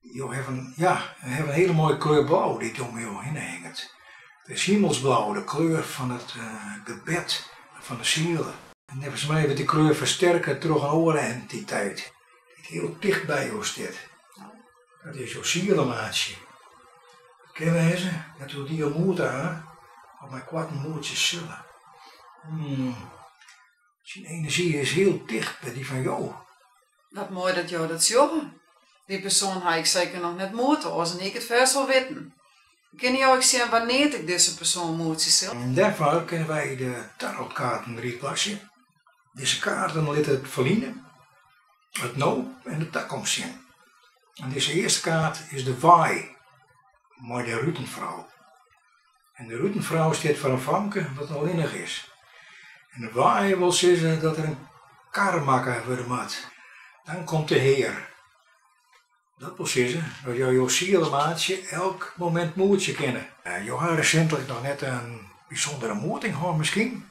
Jo hawwe in, ja, hawwe in hiele moaie kleur blau dy't om jo hinne hinget. It is himelsblau, de kleur fan it gebed en fan de siele. Neffens my wurdt dy kleur fersterke troch in oare entiteit dy't hiel ticht by jo stiet. Dat is jo sielemaatsje. It kin wêze dat jo dy al moete ha of meikoarten moetsje sille. Syn enerzjy is hiel ticht by dy fan jo. Wat moai dat jo dat sjogge. Dy persoan ha ik seker noch net moete, oars hie ik it fêst wol witten. Kinne jo ek sjen wannear't ik dizze persoan moetsje sil? Dêrfoar kinne wy de tarotkaarten rieplachtsje. Dizze kaarten litte it ferline, it no en de takomst sjen. Dizze earste kaart is de waaier mei de rutenfrou. En de rutenfrou stiet foar in famke dat allinnich is. En de waaier wol sizze dat der in kar makke wurde moat. Dan komt de Hear. Dat wol sizze dat jo jo sielemaatsje elk momint moetsje kinne. Jo ha resintlik noch net in bysûndere moeting hân miskien?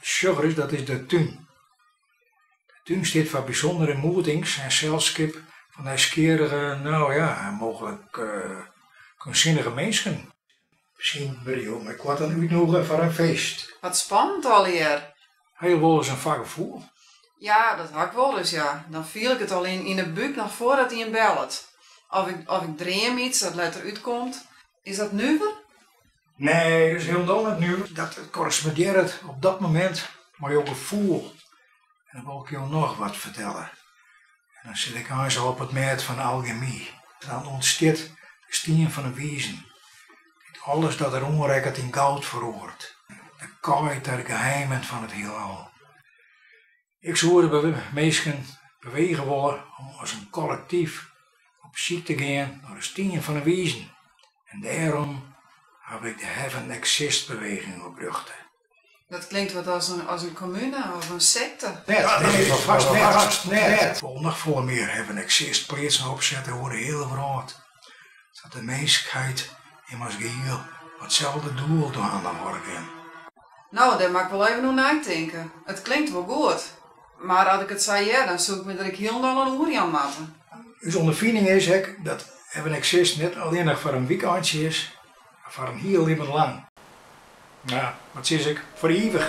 Sjoch ris, dat is de tún. De tún stiet foar bysûndere moetings en selskip fan nijsgjirrige, no ja, mooglik keunstsinnige minsken. Miskien wurde jo meikoarten útnûge foar in feest. Wat spannend allegear! Ha jo wolris in foargefoel? Ja, dat ha ik wolris, ja. Dan fiel ik it al yn yn 'e búk noch foardat ien bellet. Of ik dream iets dat letter útkomt. Is dat nuver? Nee, it is hielendal net nuver, dat it korrespondearret op dat moment mei jo gefoel. En dan wol ik jo noch wat fertelle. En dan sit ik eins al op it mêd fan algemy. Dan ûntstiet de stien fan 'e wizen, dy't alles dat er oanrekket yn goud feroaret. De kaai ta de geheimen fan it hielal. Ik soe de minsken bewege wolle om as in kollektyf op syk te gean nei de stien fan 'e wizen en dêrom haw ik de Heaven Exists beweging oprjochte. Dat klinkt wat as in kommune of in sekte. Nee, dat is it hast net. Wol noch folle mear Heaven Exists pleatsen opsette oer de hiele wrâld, sa't de minskheid him as gehiel mei itselde doel dwaande hâlde kin. No, dêr moat ik wol even oer neitinke. It klinkt wol goed, mar as ik it sa hear, dan soe ik my der ek hielendal oan oerjaan moatte. Us ûnderfining is ek dat Heaven Exists net allinnich foar in wykeintsje is, mar foar in hiel libben lang. Ja, wat sizze ik, foar ivich!